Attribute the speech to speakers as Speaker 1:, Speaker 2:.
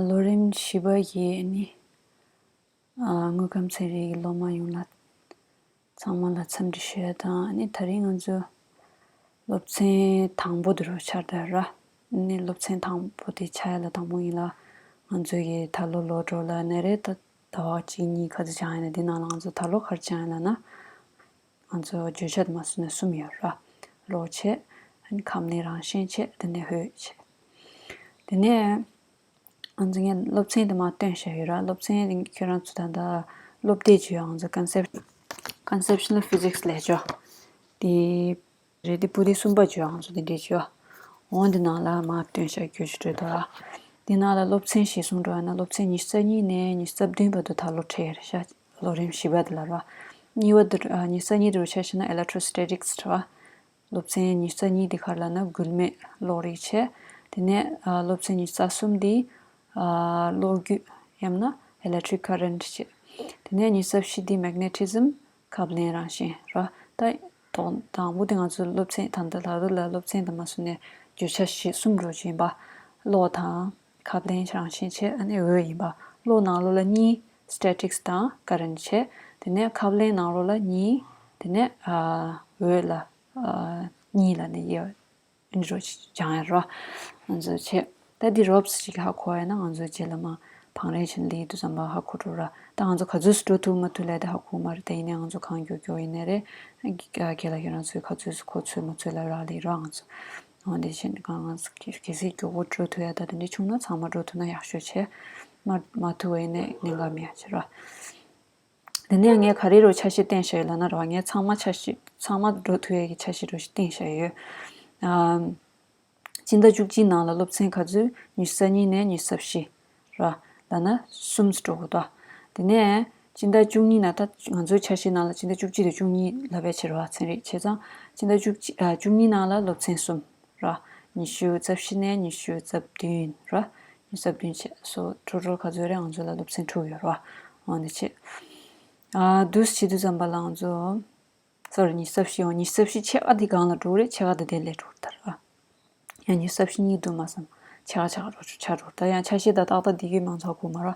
Speaker 1: ལོ་རིམ་བཞི་པ་བཞི་ནི་དངོས་ཁམས་ཚན་རིག་གི་སློབ་མ་ཡོངས་ལ་ཚང་མ་ལ་འཚམས་འདྲི་ཞུ་ཡ་དང་ད་རིང་ང་ཚོ་སློབ་ཚན་དང་པོ་དེ་རུ་འཆར་འདོད་ར་ནི་སློབ་ཚན་དང་པོ་དེ་འཆར་ཡ་ལ་དང་པོ་ཡིན་ལ་ང་ཚོ་གི་ད་ལོ་ལོ་གྲོགས་ལ་ནས་རེ་ད་ད་བག་གཅིག་གཉིས་ག་ཚོད་ཆགས་ཡོད་ན་དེ་ནང་ལ་ང་ཚོ་ད་ལོ་གར་ཆགས་ཡོད་ལ་ན་ང་ཚོ་བརྗོད་བྱ་དུ་མ་ཟུར་ནས་གསུམ་ཡོད། ར། རོ་བྱེད། ཁམས་ནི་རང་བཞིན་བྱེད། དེ་ནས་ཧུད་བྱེད། དེ་ནས། ང་ཚོ་ངས་སློབ་ཚན་དུ་མ་སྟོན་བཤད་ཡོད། ར། སློབ་ཚན་རིང་ཁྱོད་རང་ཚོ་ད་ལྟ་སློབ་དེབ་ཀྱི་ང་ཚོ Conceptual Physics ལས་ཅོ། དེའི། རེད་དེ་པོ་དེ་གསུམ་པ་བརྗོད་ཨང་སོ་དེ་འདྲས་བརྗོད་ཨ་འོ་འདི་ནང་ལ་མ་བཏོན་ཤག་རྒྱུ་ཆུ་དྲོད་དོ་ར་འདི་ནང་ལ་སློབ་ཚན་ཞེ་གསུམ་འགྲོ་ཡ་ན་སློབ་ཚན་ཉི་ཤུ་རྩ་གཉིས་ནས་ཉི་ཤུ་རྩ་བདུན་བར་དུ་ད་ལོ་ཁྲིད་ཡེར་ཤ་ལོ་རིམ་བཞི་པ་དེ་ལ་ར་གཉིས་བར་དུ་ཉི་ཤུ་རྩ་གཉིས་དུ་ཆ་ཤེ་ན Electrostatics ར་སློབ་ཚན་ཉི་ཤུ་རྩ་གཉིས་དེ་ཁར་ལ་ན་འགུལ་མེད་གློག་རིག་ཆེ་དེ་ནས་སློབ་ཚན་ཉི་ཤུ་རྩ་གསུམ་དེ་གློག་རྒྱུད་ཡམ་ན Electric Current ཆེ་དེ་ནས་ཉི་ཤུ་རྩ་བཞི་དེ Magnetism ཁབ་ལེན་རང་བཞིན་ར་ལྟ་དོག་དང་པོ་དེ་ང་ཚོའི་སློབ་ཚན་དང་ད་ལ་རུ་ལ་སློབ་ཚན་དུ་མ་སོང་ནས་བརྗོད་བྱ་གཞི་གསུམ་རུ་བྱིན་པ། བློ་དང། ཁབ་ལེན་རང་བཞིན་ཆེད་ཨ་ནི་འོས་ཡིན་པ། བློ་ནང་བློ་ལ་གཉིས། Statics དང Current ཆེད། དེ་ནས་ཁབ་ལེན་ནང་བློ་ལ་གཉིས། དེ་ནས་འོས་ལ་གཉིས་ལ་ནི་དབྱེ། ཨིན་རོ་ཅང་ཨེ་རོ། ང་ཚོས་ཆེ། ད་འདི་རོབས་ཅིག་ཧ་གོ་བས་ན་ང་ཚོའི་རྗེས་ལ་མ། བང་རེན་བྱིན་ལི་དུ་ཙམ་པ་ཧ་གོ་འགྲོ་ར། ད་ང་ཚོ་ག་ཚོད་སུ་འགྲོ་ཐུབ་མ་ཐུབ་ལས་ད་ཧ་གོ་མ་རེད་ད་ཡིན་ནའི་ང་ཚོ་གང་འགྱོ་འགྱོ་ཡིན་ནའི་རེད། ཁྱེད་ལ་ཁྱེད་རང་ཚོས་ག་ཚོད་སུ་གོ་ཚོད་མ་ཚོད་ལ་རག་ལས་རོགས་ང་ཚོ། འོ་དེ་ཕྱིན་གང་ང་ཚོ་གལ་སྲིད་མགྱོགས་པོ་འགྲོ་ཐུབ་ཡ་ད་དེ་འདྲ་བྱུང་ན་ཚང་མ་འགྲོ་ཐུབ་ན་ཡག་ཤོས་ཆེ། མ་མ་ཐུབ་བས་ནས་གནད་འགག་མི་ཡ་ཆེ་རོགས། དེ་ནས་ངས་ག་རེ་རུ་འཆར་གཞི་བཏིང་བཞག་ཡོད་ལབ་ན་རེ་བ་ངས་ཚང་མ་འཆར་གཞི་ཚང་མ་འགྲོ་ཐུབ་ཡག་གི་འཆར་གཞི་རུ་བཏིང་བཞག་ཡོད། སྤྱི་ཟླ་བཅུ་གཅིག་ནང་ལ་སློབ་ཚན་ག་ཚོད་ཉི་ས་གཉིས་ནས་ཉི་ས་བཞི། ར། ལ་ན་གསུམ་ཚོད་འགྲོ་དགོས་ད། དེ་ནས་སྤྱི་ཟླ་བཅུ་གཉིས་ན་ད་ང་ཚོའི་འཆར་གཞི་ནང་ལ་སྤྱི་ཟླ་བཅུ་གཅིག་དང་བཅུ་གཉིས་ལ་བས་ཕྱིར་ར་ཚན་རིག་བྱས་ཙང་སྤྱི་ཟླ་བཅུ་གཅིག་བཅུ་གཉིས་ནང་ལ་སློབ་ཚན་གསུམ། ར། ཉི་ཤུ་རྩ་བཞི་ནས་ཉི་ཤུ་རྩ་བདུན་ར། ཉི་ཤུ་རྩ་བདུན་ཕྱེད་སོ་དྲུག་རོལ་ཁ་རྫོད་རེ་ང་ཚོ་ལ་སློབ་ཚན་དྲུག་ཡོད་ར། འོ་ན་ཕྱེད། བདུན་ཟེར་གྱི་བདུན་ཙམ་པ་ལ་ང་ཚོ། སོར་ཉི་ཤུ་རྩ་བཞི་ཡོང་ཉི་ཤུ་རྩ་བཞི་ཕྱེད་ཀ་འདི་གང་ལ་དྲུག་རེད་ཕྱེད་ཀ་འདི་དེ་ལས་དྲུག་དར་ར། ཡང་ཉི་ཤུ་རྩ་བཞི་གཉིས་བསྡུར་མ་བསམ། ཕྱེད་ཀ་ཕྱེད་ཀ་དྲུག་ཆ་དྲུག་དར་ཡང་ཆ་ཤེས་དང་ཏག་ཏག་འདི་རྒྱུད་མང་ཚོགས་ཁུག་མ་ར།